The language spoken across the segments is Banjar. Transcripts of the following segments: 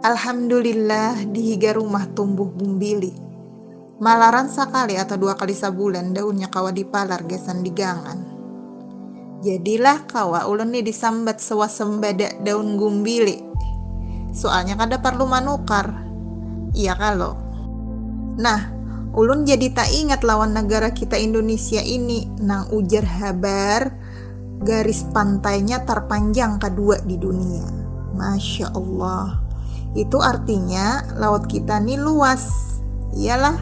Alhamdulillah di higa rumah tumbuh bumbili. Malaran sakali atau dua kali sabulan daunnya kawa dipalar gasan digangan. Jadilah kawa ulun ni disambat swasembada daun gumbili. Soalnya kada parlu manukar. Iya kalo. Nah, ulun jadi taingat lawan nagara kita Indunisia ini nang ujar habar Garis pantainya tarpanjang kadua di dunia. Masya Allah. Itu artinya laut kita nih luas. Iyalah.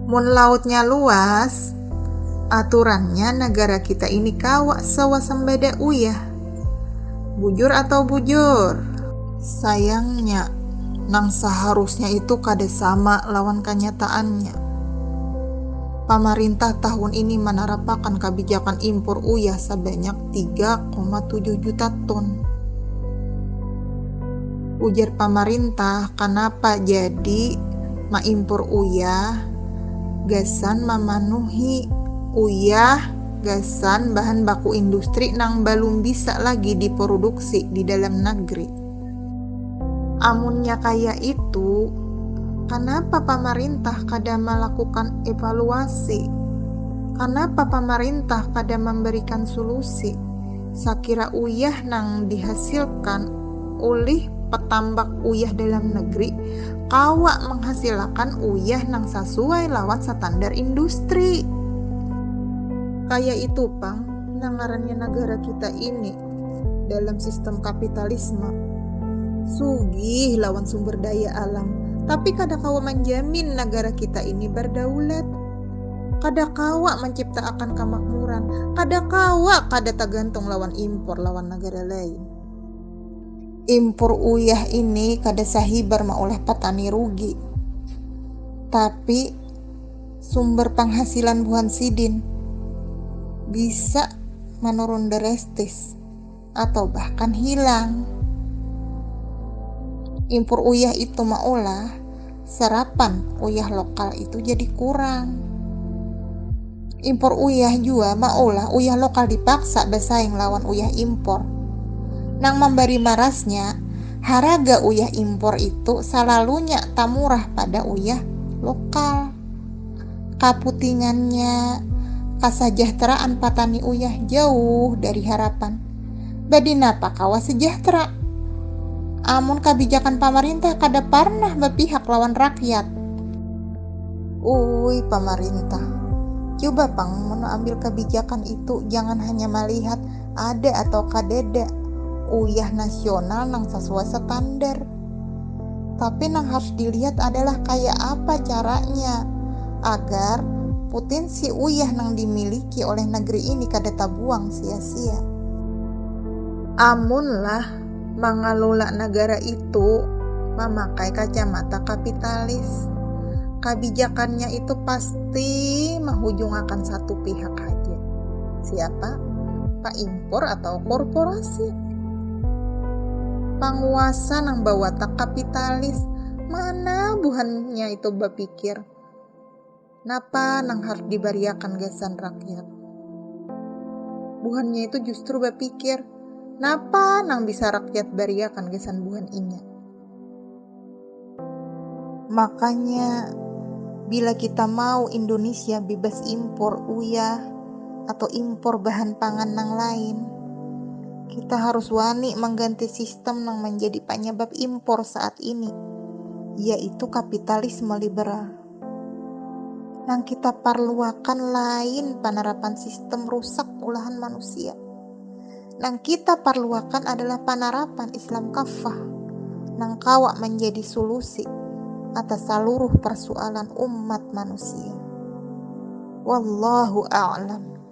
Mun lautnya luas, aturannya negara kita ini kawa sewasembada uyah. Bujur atau bujur? Sayangnya, nang seharusnya itu kada sama lawan kanyataannya. Pamarintah tahun ini manarapakan kabijakan impur uyah sabanyak tiga koma tujuh juta ton. Ujar pamarintah kanapa jadi maimpur uyah gasan mamanuhi uyah gasan bahan baku industri nang balum bisa lagi dipuruduksi di dalam nagri. Amunnya kaya itu, kanapa pamarintah kada malakukan evaluasi? Kanapa pamarintah kada mambarikan sulusi sakira uyah nang dihasilkan ulih petambak uyah dalam negeri kawa manghasilakan uyah nang sasuai lawan satandar industri? Kaya itu pang nang ngarannya nagara kita ini. dalam sistem kapitalisme sugih lawan sumber daya alam tapi kada kawa manjamin nagara kita ini bardaulat kada kawa mancipta akan kamakmuran kada kawa kada tagantung lawan impor lawan nagara lain impor uyah ini kada sahibar maulah patani rugi tapi. Sumber panghasilan buhan sidin bisa manurun drastis atau bahkan hilang. Impur uyah itu maulah serapan uyah lokal itu jadi kurang. Impor uyah jua maulah uyah lokal dipaksa bersaing lawan uyah impor. Nang memberi marasnya, Haraga uyah impor itu salalunya tamurah pada uyah lokal. Kaputingannya, kasajahteraan patani uyah jauh dari harapan. Badinapa kawa sejahtera amun kabijakan pamarintah kada parnah bapihak lawan rakyat? Uui pamarintah, cuba pang mun ambil kabijakan itu jangan hanya malihat Ada atau kadada uyah nasional nang sasuai standar. Tapi nang harus dilihat adalah kaya apa caranya agar putinsi uyah nang dimiliki oleh negeri ini kada tabuang sia-sia. Amunlah Mangalula nagara itu mamakai kacamata kapitalis. Kabijakannya itu pasti mahujungakan satu pihak haja. Siapa? Paimpor atau korporasi. Panguasa nang bawatak kapitalis, mana buhannya itu bapikir. Napa nang harus dibariakan gasan rakyat? Buhannya itu justru bapikir, napa nang bisa rakyat bariakan gasan buhan inya? Makanya, bila kita mau Indonesia bebas impor uyah atau impor bahan pangan nang lain, kita harus wani mengganti sistem nang menjadi penyebab impor saat ini, yaitu kapitalisme liberal. Nang kita parluakan lain panarapan sistem rusak ulahan manusia. Nang kita parluakan adalah panarapan Islam kaffah nang kawa manjadi sulusi atas saluruh parsualan umat manusia. Wallahu a'lam.